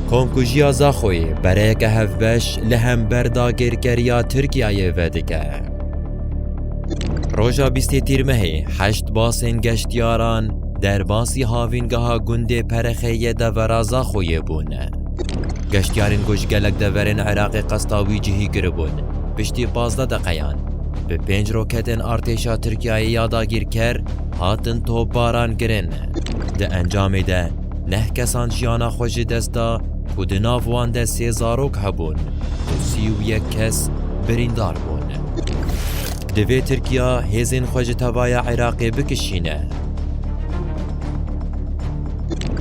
Komkujiya Zaxoyê bereyeke hevbeş li hember dagirkeriya Tirkiyeyê vedike. Roja bîstê Tîrmehê heşt basên geştyaran derbasî havîngeha gundê Perexê yê devera Zaxoyê bûn. Geştyarên ku ji gelek deverên Iraqê qesta wî cihî kiribûn, piştî pazdeh deqeyan bi pênc roketên artêşa Tirkiyeyê ya dagirker hatin topbarankirin. Di encamê de Neh kesan jiyana xwe ji dest da ku di nav wan de sê zarok hebûn û sî û yek kes birîndar bûn. Divê Tirkiya hêzên xwe ji tevaya Iraqê bikişîne.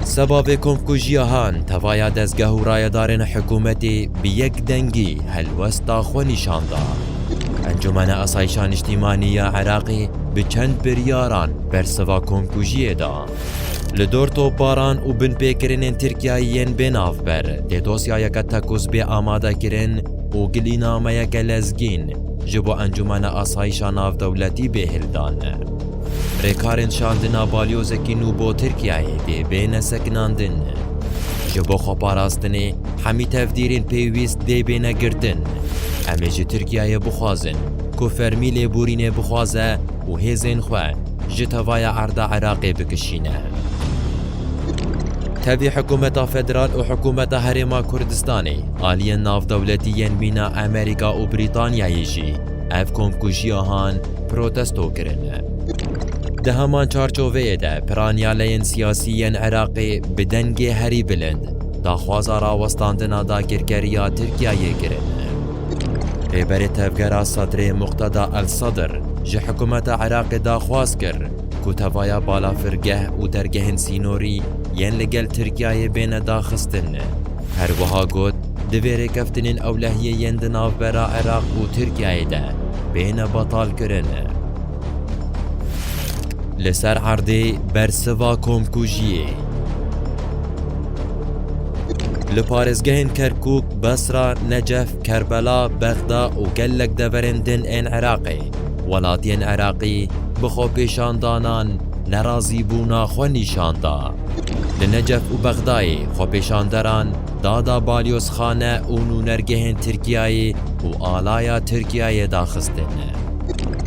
Seba vê komkujiya han tevaya dezgeh û rayedarên hikûmetê bi yek dengî helwesta xwe nîşan da. Encûmena Asayîşa Niştîmanî ya Iraqê bi çend biryaran bersiva komkujiyê da. Li dor topbaran û binpêkirinên Tirkiyeyê yên bê navber tê dosyayeke tekuzbê amadekirin û gilînameyeke lezgîn ji bo Encûmena Asayîşa Navdewletî bê hildan. Rêkarên şandina balyozekî nû bo Tirkiyeyê dê bêne sekinandin. Ji bo xweparastinê hemî tevdîrên pêwîst dê bêne girtin. Em ê ji Tirkiyeyê bixwazin ku fermî lêborînê bixwaze û hêzên xwe ji tevaya erda Iraqê bikişîne. Tevî hikûmeta federal û hikûmeta Herêma Kurdistanê, aliyên navdewletî yên mîna Amerîka û Brîtanyayê jî ev komkujiya han protesto kirine. Di heman çarçoveyê de piranîaleyên siyasî yên Iraqê bi dengê herî bilind daxwaza rawestandina dagirkeriya Tirkiyeyê kirine. Rêberê Tevgera Sedrê Muqteda El Sedr ji hikûmeta Iraqê daxwaz kir ku tevaya balafirgeh û dergehên sînorî yên li gel Tirkiyeyê bêne daxistin. Her wiha got, Divê rêkeftinên ewlehiyê yên di navbera Iraq û Tirkiyeyê de bêne betalkirin. Li ser erdê bersiva komkujiyê. Li parêzgehên Kerkûk Besra, Necef, Kerbela, Bexda û gelek deverên din ên Iraqê, welatiyên Iraqî bi xwepêşandanan nerazîbûna xwe nîşan da. Li Necef û Bexdayê xwepêşanderan dada balyozxane û nûnergehên Tirkiyeyê û alaya Tirkiyeyê daxistin.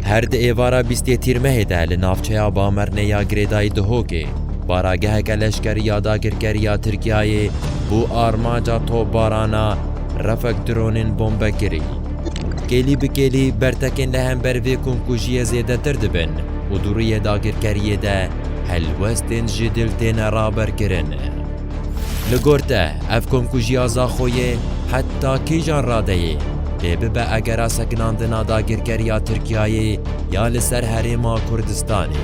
Her di êvara bîstê Tîrmehê de li navçeya Bamernê ya Girêdayî Duhokê Parageheke leşkerî ya dagirkerî ya Tirkiyeyê bo armanca topbarana Refek dronên bombe kirî. Kêlî bi kêlî bertekên li hember vê komkujiyê zêdetir dibin û di rûyê dagirkeriyê de helwestên ji dil têne raberkirin. Li gor te ev komkujiya Zaxoyê heta kîjan radeyê? Dê bibe egera sekinandina dagirkeriya Tirkiyeyê ya li ser herêma Kurdistanê.